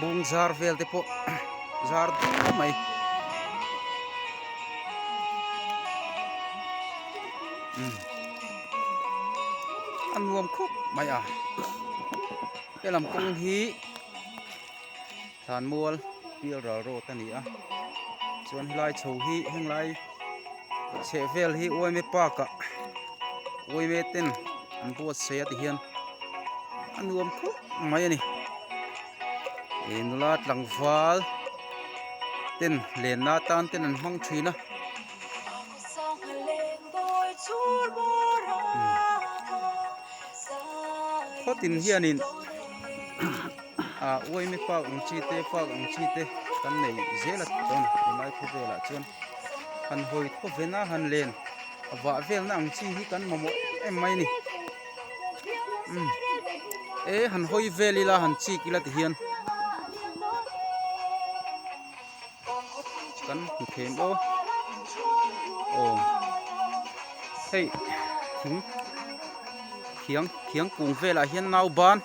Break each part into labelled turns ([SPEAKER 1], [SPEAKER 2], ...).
[SPEAKER 1] Bung zar vel te pawh zar dup mai a nuam khawp mai a he lam kawng hi thlan mual pial ral road a ni a chuan helai chho hi henglai-- chheh vel hi uaime park ah uaime ten an buatsaih a tihian a nuam khawp mai a ni e nula tlangval ten lenna tan ten an hmang thin a khawtin hianin Uaimi fak ang chi te fak ang chi te kan nei zel a tawn a hnuai khaw velah chuan han hawi thaw ve na han len a vah vel na ang chi hi kan mamawh em mai a ni e han hawi vel ila han chik ila ti hian kan hmu thei maw aw hei thiang thiang kung velah hian nauban.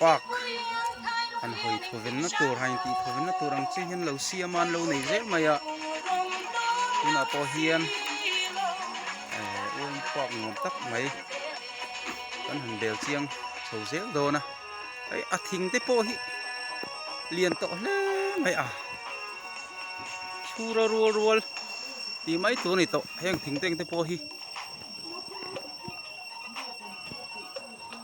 [SPEAKER 1] park an hawi thuvenna tur han intih thuvenna tur ang chiang hian lo siam a an lo nei zel mai a tunah pawh hian uain park nuam tak mai kan han bel chiang chho zel dawn a hei a thing te pawh hi lian tawh hle mai a chhura rual rual ti mai tur ni tawh heng thingteng te pawh hi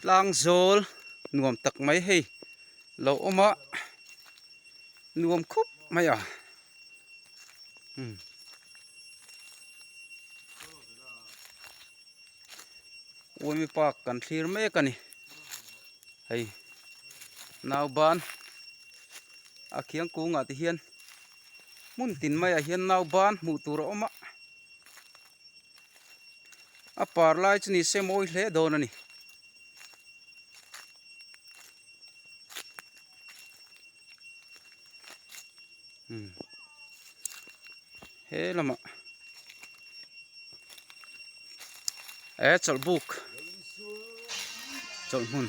[SPEAKER 1] tlang zawl nuam tak mai hei lo awm a nuam khawp mai a umm uaimi pa kan thlir mek a ni hei nau ban a khiang kung ah te hian hmun tin mai ah hian nau ban hmuh tur a awm a. a par lai chu ni se mawi hle dawn a ni hmm. he lamah e eh, chawlh buk chawlh hmun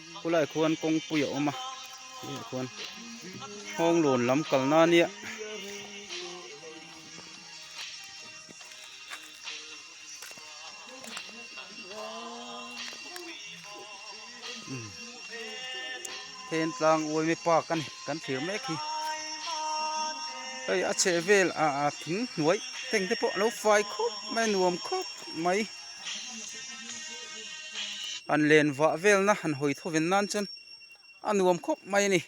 [SPEAKER 1] Khulaiah khuan kawngpui a awm a, khulaiah khuan Hawnglawn lam kalna ania Thentlang Uaime Park a ni kan thlir mek hi hei a chhehvelah thing hnuai tengte pawh a lo fai khawp mai a nuam khawp mai. an len vah velna han hawi thawven nan chuan a nuam khawp mai a ni.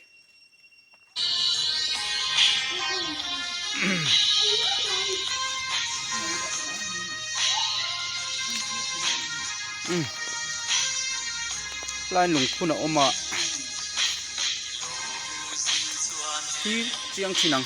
[SPEAKER 1] Line lungphun a awm a, thil chiang thin ang.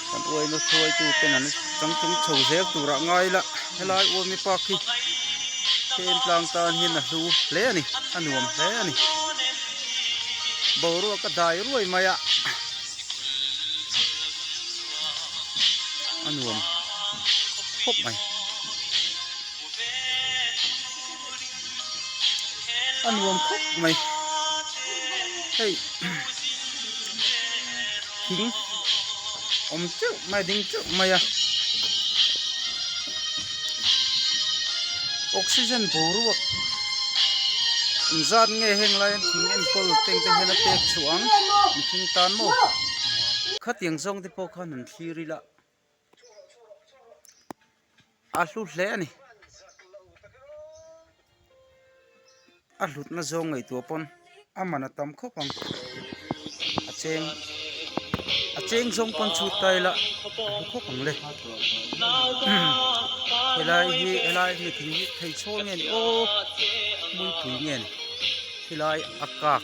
[SPEAKER 1] kan uaina thuaitu ten an kan tum chho zel turah ngai lah helai uami pa khi khi en tlang tan hian a hlu hle a ni a nuam hle a ni boruak a dai ruai mai a a nuam khawp mai. a nuam khawp mai hei thing awm teuh mai a ding teuh mai a oxygen boruak zat nge heng laiin thing enkawl teng te hian a pek chhuah ang mihring tan maw khatiang zawng te pawh khan an thlir ila. a hlu hle a ni a hlutna zawng ngeitur pawn a man a tam khawp ang a cheng a cheng zawng pawn chhut ta ila a hlu khawp ang le helai hi helai mitling hi theichhawl nge ni aw muipui nge ni hilai a kak.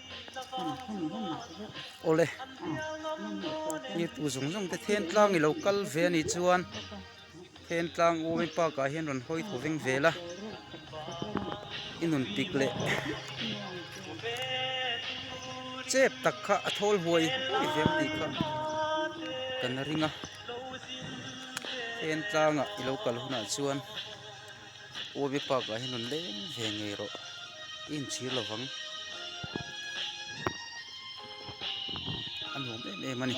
[SPEAKER 1] awle i pu zawng zawng te then tlang ilo kal ve anih chuan then tlang awm in park ah hian rawn hawi thaw veng vel a i nun pik leh chep tak kha a thawl huai huai ve ang tih kha kan ring a then tlang ah ilo kal hunah chuan-- Uavi park ah hian rawn leng ve ngei rawh i inchhir lo vang a nuam em em a ni --